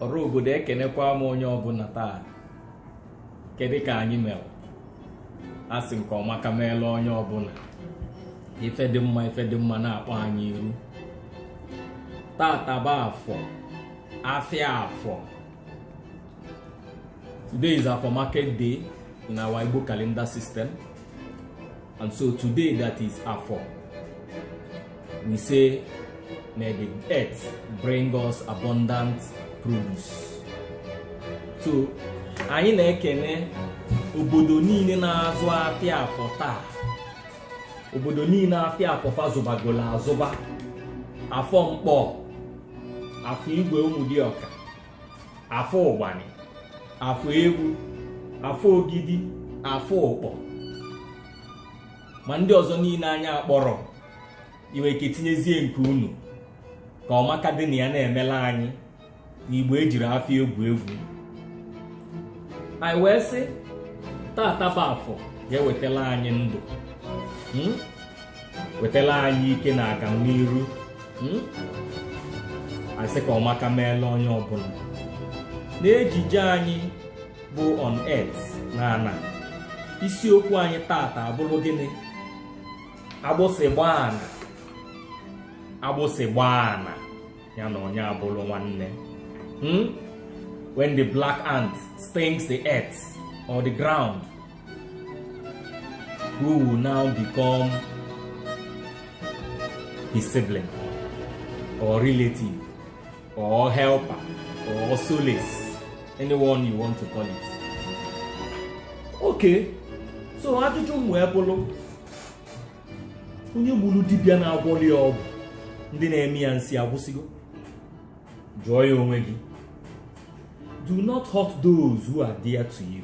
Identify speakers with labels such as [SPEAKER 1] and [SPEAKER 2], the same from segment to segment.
[SPEAKER 1] ọra obodo ekenekwa m onye ọbụla taa kedu ka anyị mere a sị nke ọmaka meela onye ọbụla ife dị mma ife dị mma na-akpọ anyị iru tata bụ afọ afịa afọ today is afọ market day in our Igbo calendar system And so today that is Afọ. We say may the earth bring us abundant produce. So anyị na-ekene obodo niile na-azụ afịa afọ taa obodo niile afịa afọ fa zụbagolo azụba afọ nkpọ afọ igwe ụmụdịọka afọ ụgbanị afọ egwu afọ ogidi afọ ụkpọ ma ndị ọzọ niile anyị akpọrọ i nwe ike tinyezie nke unu ka ọmaka dị na ya na-emela anyị n'igbo ejirọ afọ egwu egwu anyị wee sị tata bụ afọ ga-ewetala anyị ndụ hmm? wetala anyị ike na aganiru hmm? anyị sị ka ọmaka meela onye ọbụla n'ejije anyị bụ on earth na ana isiokwu anyị tata abụrụ gịnị agbụsị gbaa ana agbụsị gbaa ana ya na onye abụrụ nwanne hmm? when the black ant stings the earth or the ground who will now become his sibling or relative or helper or solace anyone you want to call it okay so ajụjụ m wee bụrụ onye gburu dibịa na-agwọlụ ya ọgwụ ndị na-eme ya nsi agwụsịgo jụọ ya onwe gị do not hurt those who are dear to you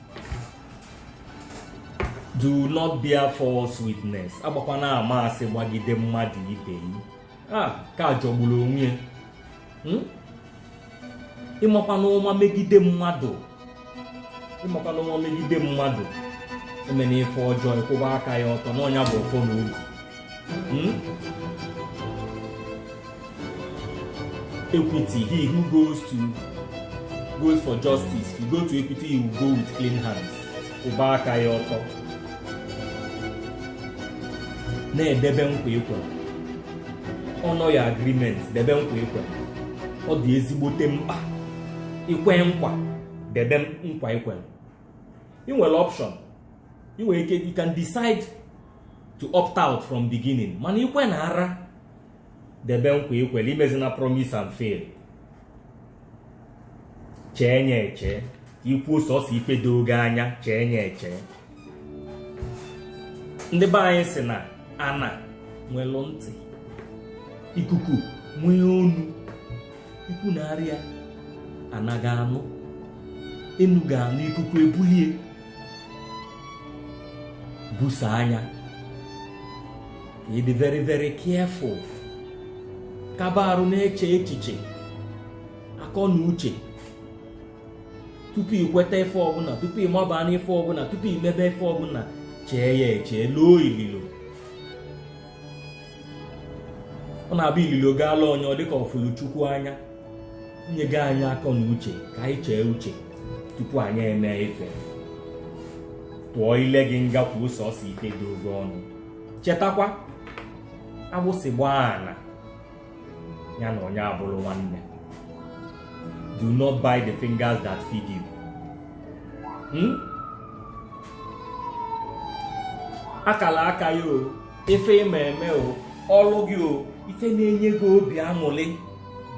[SPEAKER 1] do not bear false witness agbakwana ama asị gbagide mmadụ ibe yi maka ọ jọgburu onwe ya hmm? ịmakwana ụma megide mmadụ ịmakwana ụma megide mmadụ emena ife ọjọọ ịkwụba aka yi ọtọ n'ọ nya bụ ọfọ na ogu Hmm? Equity, he who goes to goes for justice, you go to equity, you go with clean hands. Kwụba aka yi ọtọ. Na-edebe nkwa i kwe. Honour your agreement, debe nkwa i kwe. Ọ dị ezigbote mkpa. I kwe nkwa, debe nkwa i kwe. Ị nwere option. Ị nwere ike, you can decide to opt out from beginning mana ikwe na ara debe nkwa ikwere imezina promise and fail chee nya eche i kwuo sọsọ ife doo gị anya chee nya eche ndị be anyị sị na ana nwelu ntị ikuku nwee ọnụ ikwu na arịa ana ga-anụ enu ga-anụ ikuku ebulie busaa nya ka ị dị very very careful kaba arụ na-eche echiche akọ na uche tupu i kweta ife ọbụla tupu ị maba n'ife ọbụla tupu i mebe ife ọbụla chee ya eche loo ililo ọ na-abụ ililo gaala onye ọ dịka ọ fụlụ chukwu anya nye gị anyị akọ na uche ka anyị chee uche tupu anyị eme ife tụọ ile gị nga kwuo sọsọ ife doo gị ọnụ chetakwa agbụsị gbaa ana ya na onye abụrụ nwanne do not bite the fingers that feed you hmm? akala aka ya o ife ị ma eme o ọlụ gị o ife na-enye gị obi aṅụrị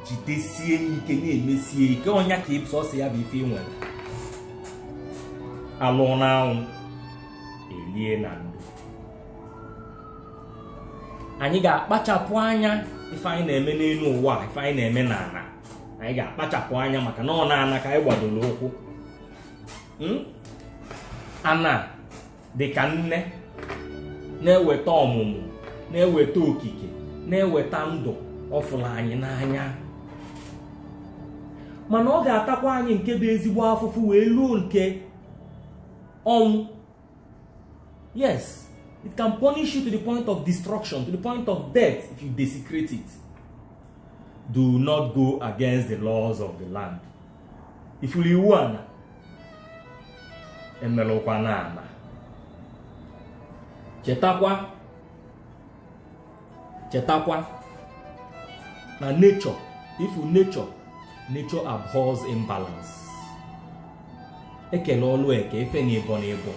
[SPEAKER 1] jidesie ike na-emesie ike ọ nya ka ị bụ sọsọ ya bụ ife i nwere alụ n'anwụ elie na ndo anyị ga-akpachapụ anya ife anyị na-eme n'enu ụwa ife anyị na-eme n'ana anyị ga-akpachapụ anya maka na ọ n'ana ka anyị gbadoro ụkwụ ana dị ka nne na-eweta ọmụmụ na-eweta okike na-eweta ndụ ọ fụrụ anyị n'anya mana ọ ga-atakwa anyị nke bụ ezigbo afụfụ wee luo nke ọnwụ yes it can punish you to the point of destruction to the point of death if you desecrate it do not go against the laws of the land ị fụrụ iwu ana emerụkwana ana chetakwa chetakwa na nature ị fụ nature nature abhors imbalance ekele ọlụ eke ife na ịbọ na ịbọ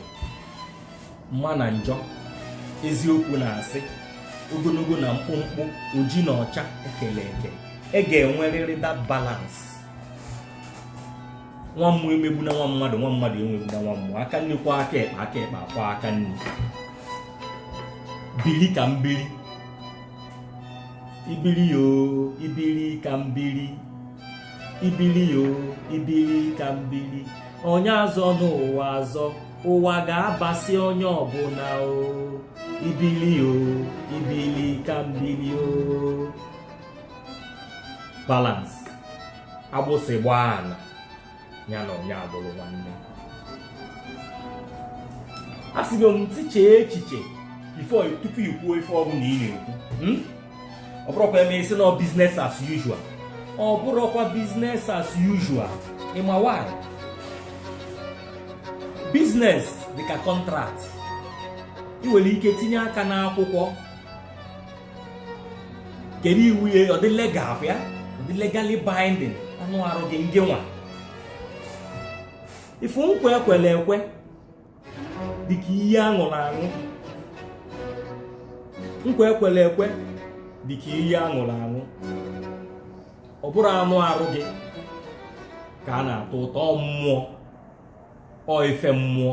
[SPEAKER 1] mma na njọ eziokwu na asị ogonogo na mkpụmkpụ oji na ọcha ekele eke e ga-enwerịrị that balance nwa mmụọ emegbuna nwa mmadụ nwa mmadụ emegbuna nwa mmụọ aka nni kwọọ aka ekpe aka ekpe akwọọ aka nni bili ka mbili ibili yo ibili ka mbili ibili yo ibili ka mbili onye azọna ụwa azọ ụwa ga-abasị onye ọbụla o ibili o ibili ka mbili o balance agbụsị gbaa ala ya na onye abụrụ nwanne asịgo m tichee echiche before tupu i kwuo ife ọbụla ị na-ekwu hmm? ọ bụrọkwa e mee ị sị na ọ business as usual ọ bụrọkwa business as usual ị ma why business dịka contract ị nwere ike tinye aka n'akwụkwọ kedu iwu ya ọ dị legal kwa ya ọ dị legally binding anụ arụ gị ngị nwa ị fụ nkwa ekwelu ekwe dịka iyi aṅụrụ aṅụ nkwa ekwelu ekwe dịka iyi aṅụrụ aṅụ ọ bụrọ anụ arụ gị ka a na-atọ ụtọ ọ mmụọ ọ ife mmụọ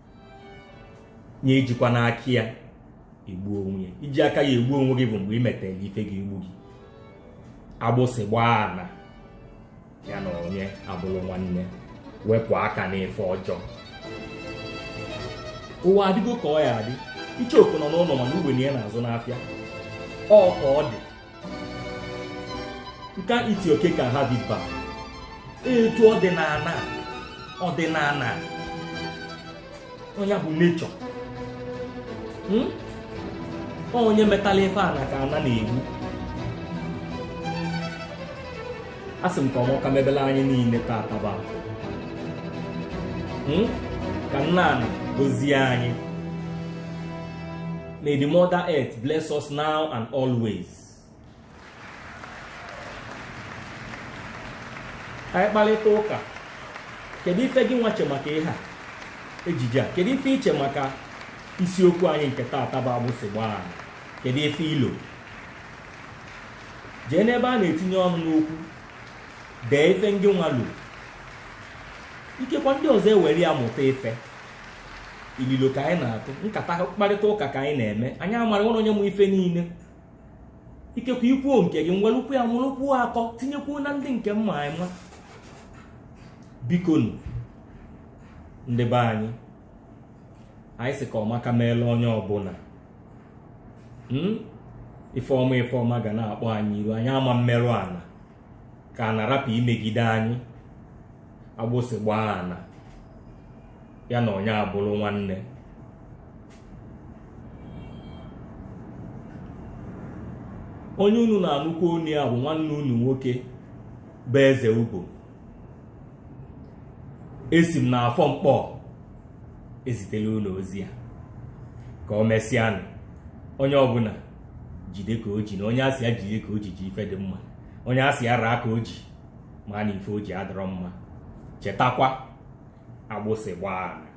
[SPEAKER 1] nye ejikwana aka ya egbu onwe ya iji aka ya egbu onwe gị bụ mgbe ị metere ife ga-egbu gị agbụsị gbaa ana ya na onye abụrụ nwanne wepụ aka n'ife ọjọọ ụwa adịgo ka ọ ya adị icheoku nọ n'ụnọ mana ugbene ya na-azụ n'afịa ọ ka ọ dị you can't eat your cake and have it back etu ọ dị n'ana ọdịnana ọ nya bụ nature hmm? onye metalụ ife ana ka ana na-egbu asị m ka ọmaka mebele anyị niile taata bụ afọ ka nne ana gozie anyị May the Mother Earth bless us now and always. anyị kparịta ụka kedu ife gị nwa che maka ihe a ejije a kedu ife i che maka isiokwu anyị nke taata bụ agbụsị gbaa ana kedu ife i lo jee n'ebe a na-etinye ọnụ n'okwu dee ife ngị nwa lo ikekwa ndị ọzọ ewere ya mụta ife ililo ka anyị na-atụ nkata mkparịta ụka ka anyị na-eme anyị ma na enwerọ onye ma ife niile ikekwa i kwuo nke gị m welukwu ya mụrụkwuo akọ tinyekwuo na ndị nke m ma ama bikonu ndị be anyị anyị sị ka ọmaka meela onye ọbụla hmm? ife ọma ife ọma ga na-akpọ anyị iru anyị ama emerụ ana ka ana rapụ imegide anyị agbụsị gbaa ana ya na onye abụrụ nwanne onye unu na-anụkwu onu ya bụ nwanne unu nwoke bụ eze ugbo esi m n'afọ nkpọ ezitela unu ozi a ka o mesịanụ onye ọbụla jide ka o ji na onye a sị ya jide ka o ji ji ife dị mma onye a sị ya raa ka o ji ma na ife o ji adịrọ mma chetakwa agbụsị gbaa ana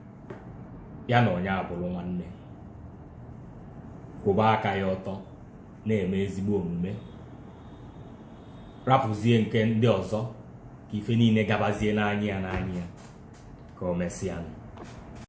[SPEAKER 1] ya na onye abụrụ nwanne kwụba aka gị ọtọ na-eme ezigbo omume rapụzie nke ndị ọzọ ka ife niile gabazie n'anya ya n'anya ya ka o mesịa